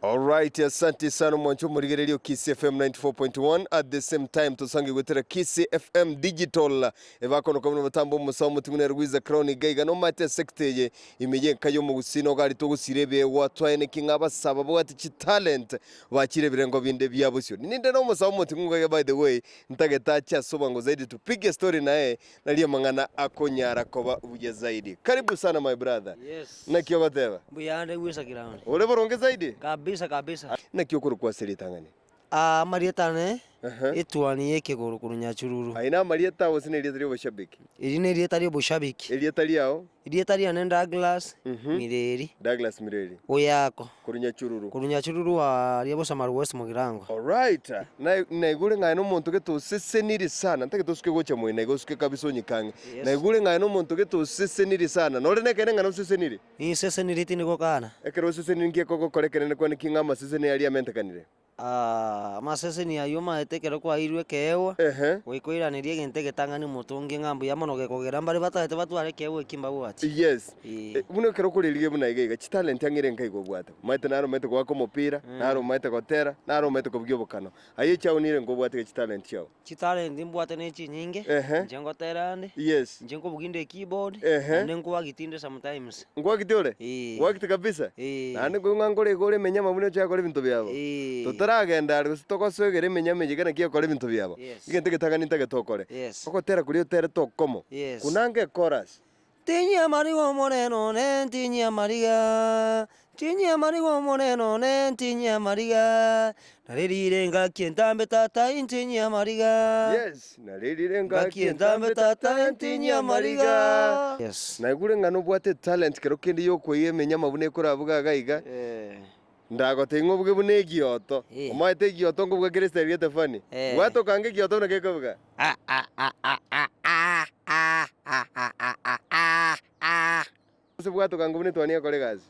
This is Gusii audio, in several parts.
Alright asanti sana omwancho omorigereria o Kisii FM 94.1 at the same time tosange gwetera Kisii FM Digital ebakonoka buna omotambo omosawa omoting'u nere Gwiza Crown iga iga nomate esector eye ime ye enka y'omogusii nogo aria togosiira ebiegwa twaeneki ng'a abasasa babwate chitalent bachire ebirengo binde bia bosio ninde nomosawa omoting'u iga iga by the way ntagete ache ase obwango zaidi tupige story naye Nari amang'ana akonyara koba buya zaidi. Karibu sana my brother. Yes. Naki ogoteba? Mbuya ande gwisa ground. Ore boronge zaidi? Kabisa kabisa. Naki okorokwa ase ritang'ani? Ah, amarieta ane, etuani y'ekegoro korwa Nyachururu. Aye namarieta gose nerieta ri'oboshabiki? Eri nerieta ri'oboshabiki. Erieta riao? Erieta riane Douglas Mireri. Douglas Mireri. Oyako. Korwa Nyachururu. Korwa Nyachururu aria Busamali West Mugirango. Alright. Naye naigure ng'aye nomonto gete oseseniri sana, ntake tosuke gocha moyo naye gosuke kabisa onyike ang'e. Yes. Naigure ng'aye nomonto gete oseseniri sana. Nore nekeene ng'a noseseniri? Ninseseniri tindi gokana. Ekero oseseniri nki ekogokora ekenene kwane ki ng'a amaseseni aria amentekanire? Amaseseni ayio maete ekero kwaeirwe ekeegwa, goika oiranerie egento egetang'ani omotongi, ng'a mbuya mono gekogera mbaria batagete batware ekeegwa ekio mbagwate. Buna ekero okorerigia buna iga iga, chitalenti ang'e ere nkai gobwate? Omanyete nare omanyete goaka omopira, nare omanyete gotera, nare omanyete kobugia obokano. Aye echauni ere nka obwate gechitalenti chiao. Chitalenti mbwate nechinyinge, Ehe. inche ngoteera ande, Yes. inche nkobuginda ekeyboard, Ehe. naende nkoagitinde sometimes. Nkwagite ore? Ee. Nkwagite kabisa? Ee. Naende nkoigwa ng'a nkore iga ore emenyama buna ochake kore ebinto biabo. Ee. Totaragenda are gose togosoegera emenyama eyio ekero naki egokora ebinto biabo. Yes. Egento egetang'ani ntagete okore. Yes. Ogotera kuria oterete okomo. Yes. Kunanga ekorasi. Ntinyia amariga Omonene one, ntinyia amariga, ntinyia amariga Omonene one, ntinyia amariga, narerire engaki entambe tata ai, ntinyia amariga, narerire engaki entambe tata ai, ntinyia amariga. Naigure ng'a nobwate etalent kero kende y'okoiga eminyama buna ekorabwo gaga iga. Ndagotebie ng'a obuge buna egioto, omoete egioto nkobua kera esitari y'etafani, bwata okange egioto buna gekobuga. Ase bwata okange buna etuani ekore egasi.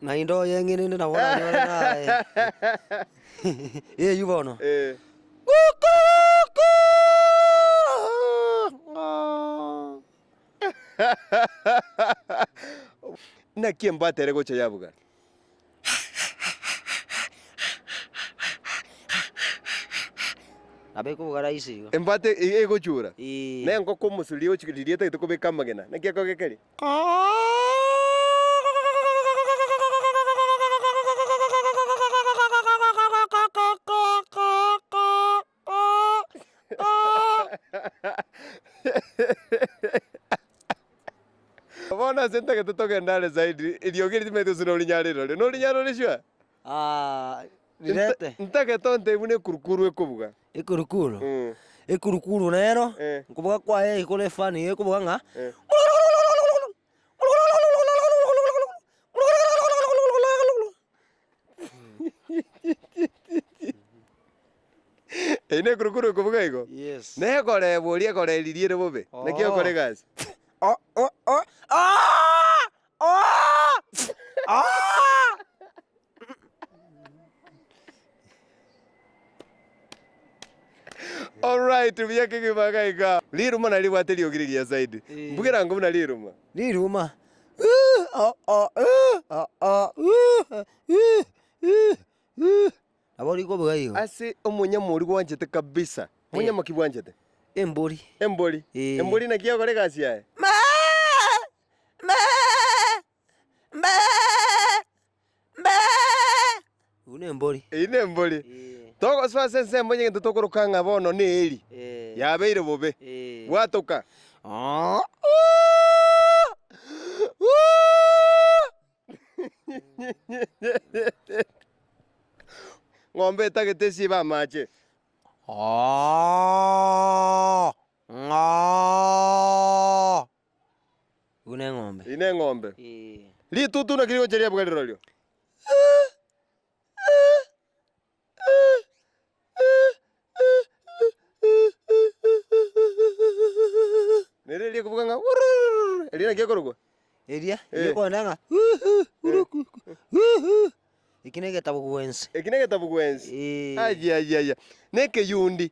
Naende oyeng'enene nabo oranyore naye. Eyio bono. Naki embata ere gocha yabuga. nabo ekoboga raisi igo. Embata e- egochura, Ee. na engoko omosuri egochika riria etagete kobeka amagena. Naki akoge keria? Bono ase ntagete togende are zaidi, eriogi eri timaeti gose norinya rirore. Norinya rore sure? Rirete. Ntagete ontebie buna ekurukuru ekobuga. Ekurukuru? Mm. Ekurukuru nero, Eh. nkoboga kwaye ekore efani iga ekoboga ng'a, Eh. Eyi nekurukuru ekobuga igo, na ekoreebwa oria ekoreeririe ere bobe, naki okore egasi. Alright, buya kegima iga iga. Riruma naribwate eriogi rigiya zaidi. Mbugera ng'u buna riruma. Riruma. Ase omonyamori gwanchete kabisa, monyamoki bwanchete. Embori. Embori. Embori naki egokora egasi yaye. Eyio nembori, togosoa ase ensemo y'egento tokoroka ng'a bono n'Eli yabeire bobe, bwatoka. Ng'ombe etagete esibe amache. Ii neng'ombe. Ritutu naki rigocha riabuga rirorio. Neriria riakobuga ng'a wururururu, eria naki ekorokwa? Eria riakorenda ng'a kurukuku huhu. Eki negetabugwensi. Eki negetabugwensi? Ayayaya. Nekeyundi.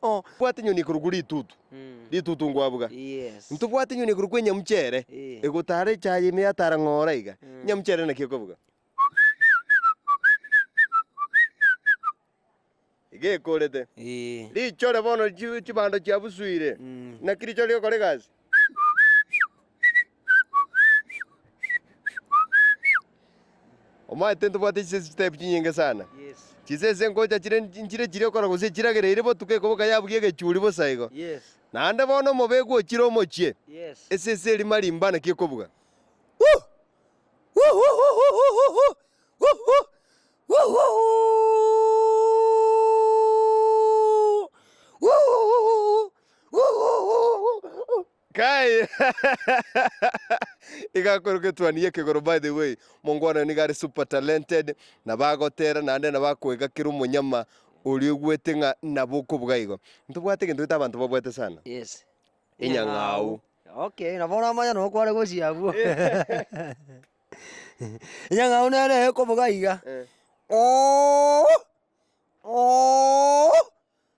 Tobwati enyoni korokwa ritutu, ritutu ngwabuga. Ntobwati enyoni korokwa enyamucha ere egotara echaye ime yatara ng'ora iga. Enyamucha ere naki ekobuga, iga ekorete. Richore bono chibando chiabusuire, naki richore rigokora egasi? Omanyete ntobwate chisese chitaipu chinyinge sana. Chisese ngocha chire nchire chiria okora gose echiragereire botuko ekoboka yabugia egechuri bosa igo. Naende bono omobekwa ochire omochie, esese eria marimba naki ekobuga. Kai! Iga akore egetwani gi'ekegoro. By the way, mongo one nigo are super talented, nabo agotera naende nabo akoega kera omonyama oria oigwete ng'a nabo okobuga igo. Ntobwate egento gete abanto babwate sana. Yes. Enyang'au. Okay, nabo oramanya noo kware gochia abwo. Enyang'au nere ekobuga iga. Eh.